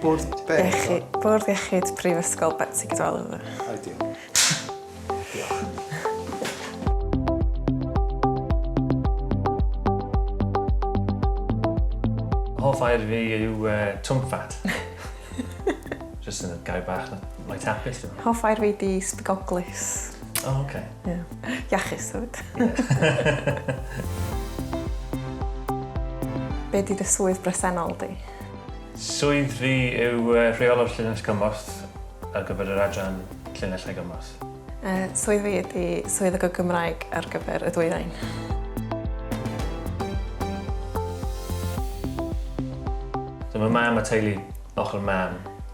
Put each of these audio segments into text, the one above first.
Bwrdd be? Iechyd, Bwrdd Iechyd Prifysgol Betsi Cadwaladr. Ideal. Diolch. Hoff air fi yw uh, twmffat. Just yn y gair bach na. Mae tapus. Hoff air fi di sbigoglus. O, oh, oce. Okay. Yeah. Iachus, hefyd. Be di dy swydd bresennol di? Swydd fi yw uh, rheolwr llinell gymorth ar gyfer yr adran llinell a gymorth. Uh, swydd fi ydy swydd y Gymraeg ar gyfer y dwyrain. Dyma mam a teulu ochr mam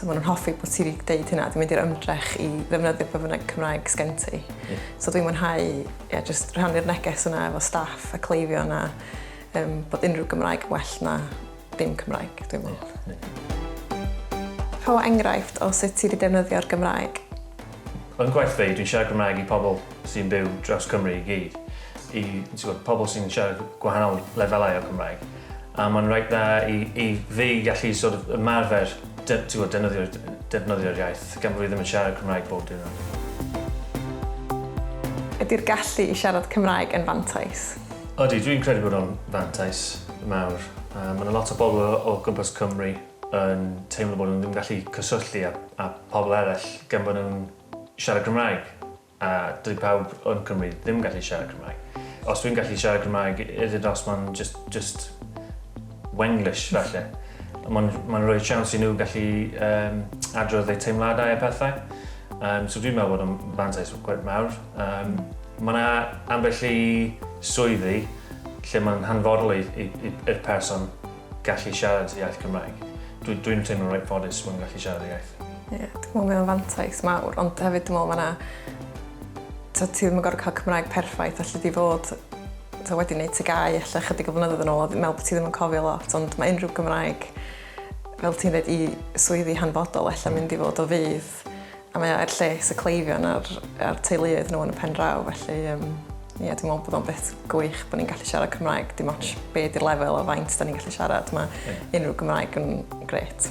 So maen nhw'n hoffi bod ti wedi dweud hynna, dwi'n mynd i'r ymdrech i ddefnyddio pe bynnag Cymraeg sgen ti. Yeah. So dwi'n mwynhau yeah, just rhannu'r neges yna efo staff a cleifio yna um, bod unrhyw Gymraeg well na dim Cymraeg, dwi'n meddwl. Yeah. Yeah. Rho enghraifft o sut ti wedi defnyddio'r Gymraeg. Yn gwaith fi, dwi'n siarad Gymraeg i pobl sy'n byw dros Cymru i gyd. I pobl sy'n siarad gwahanol lefelau o Gymraeg. A mae'n reit dda i i fi gallu sort of ymarfer de- t'mod defnyddio'r defnyddio'r iaith gan bo' fi ddim yn siarad Cymraeg bob diwrnod. Ydi'r gallu i siarad Cymraeg yn fantais? Odi, dwi'n credu bod o'n fantais mawr. Yy ma' 'na lot o bobl o o gwmpas Cymru yn teimlo bod nhw ddim yn gallu cyswllu â â pobl eraill gan bo' nhw'n siarad Cymraeg. A dyw pawb yn Cymru ddim gallu siarad Cymraeg. Os dwi'n gallu siarad Cymraeg, is it os mae'n just, just Wenglish falle. Mae'n ma rhoi siawns i nhw gallu um, adrodd eu teimladau a pethau. Um, so dwi'n meddwl bod o'n fantais gwaith mawr. Um, mae yna ambell i swyddi lle mae'n hanfodol i'r person gallu siarad iaith Cymraeg. Dwi dwi'n teimlo reit ffodus fod yn gallu siarad iaith. Ie, yeah, dwi'n meddwl mae o'n fantais mawr, ond hefyd dwi'n meddwl mae yna... So, ti ddim yn gorfod cael Cymraeg perffaith, allu di fod so, wedi gwneud tygau allu chydig o flynyddoedd yn ôl, dwi'n meddwl bod ti ddim yn cofio lot, ond mae unrhyw Gymraeg, fel ti'n dweud, i swyddi hanfodol allu mynd i fod o fydd A mae o er lles y cleifion a'r, a'r teuluoedd nhw yn y pen draw, felly um, ie, yeah, dwi'n meddwl bod o'n beth gwych bod ni'n gallu siarad Cymraeg, dim ond be di'r lefel o faint da ni'n gallu siarad, mae yeah. unrhyw Gymraeg yn gret.